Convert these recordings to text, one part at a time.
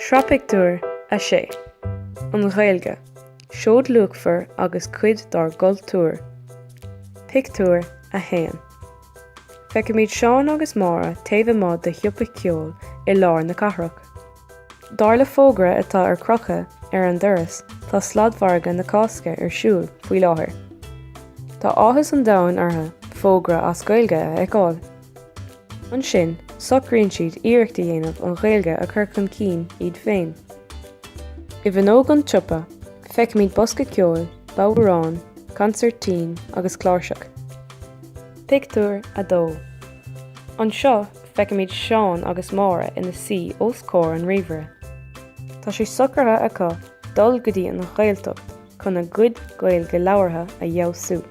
Sraith Pictiúr 6 An Ghaeilge, seoid luachmhar agus cuid dár gcultúr. Pictiúr 1 Feicimid Seán agus Máire taobh amuigh de shiopa ceoil i lár na cathrach. Dar le fógra atá ar crochadh ar an doras, tá sladmhargadh na Cásca ar siúl faoi láthair. Tá áthas an domhain orthu fógra as Gaeilge a fheiceáil. Ansin, socraíonn siad iarracht a dhéanamh an Ghaeilge a chur chun cinn iad féin. I bhfuinneog an tsiopa, feicimid bosca ceoil, bodhrán, consairtín agus cláirseach. Pictiúr 2 Anseo, feicimid Seán agus Máire ina suí os comhair an ríomhaire. Tá sé socraithe acu dul go dtí an Ghaeltacht chun a gcuid Gaeilge labhartha a fheabhsú.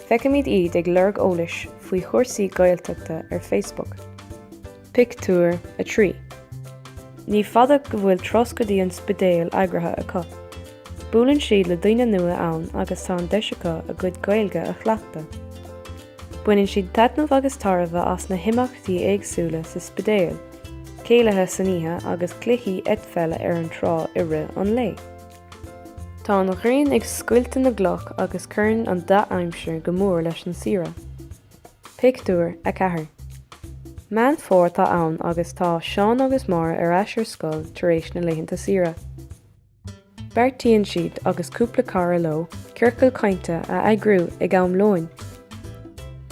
Feicimid iad ag lorg eolais faoi chúrsaí Gaeltachta ar Facebook. Pictiúr 3 Ní fada go bhfuil turas go dtí an Spidéal eagraithe acu. Buaileann siad le daoine nua ann agus tá an deis acu a gcuid Gaeilge a chleachtadh. Baineann siad taitneamh agus tairbhe as na himeachtaí éagsúla sa Spidéal, céilithe san oíche agus cluichí eitpheile ar an trá i rith an lae. Tá an ghrian ag scoilteadh na gcloch agus cuireann an dea-aimsir go mór leis an saoire. Pictiúr 4 Meán Fómhair atá ann agus tá Seán agus Máire ar ais ar scoil tar éis na laethanta saoire. Beartaíonn siad agus cúpla cara leo ciorcal cainte a eagrú ag am lóin.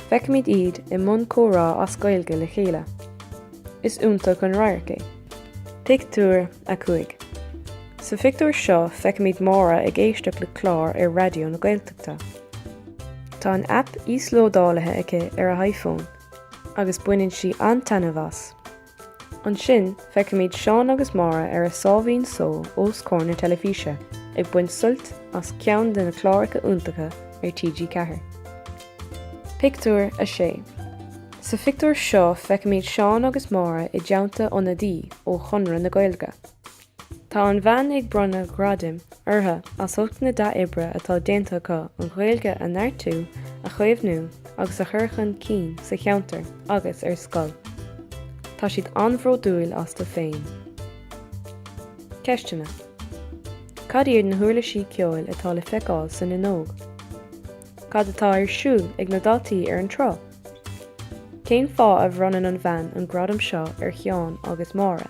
Feicimid iad i mbun comhrá as Gaeilge le chéile. Is iontach an radharc é. Pictiúr 5 Sa phictiúr seo feicimid Máire ag éisteacht le clár ar Raidió na Gaeltachta. Tá an aip íoslódálaithe aici ar a iPhone agus baineann sí an-taitneamh as. Ansin feicimid Seán agus Máire ar a sáimhín só os comhair na teilifíse ag baint suilt as ceann de na cláracha iontacha ar TG4. Pictiúr 6 Sa phictiúr seo feicimid Seán agus Máire i dteannta ionadaí ó Chonradh na Gaeilge. Tá an bhean ag bronnadh gradaim orthu as ucht na dea-oibre atá déanta acu an Ghaeilge a neartú, a chaomhnú agus a chur chun cinn sa cheantar agus ar scoil. Tá siad an-bhródúil astu féin. Ceisteanna Cad iad na huirlisí ceoil atá le feiceáil san fhuinneog? Cad atá ar siúl ag na daltaí ar an trá? Cén fáth a bhronnann an bhean an gradam seo ar Sheán agus Máire?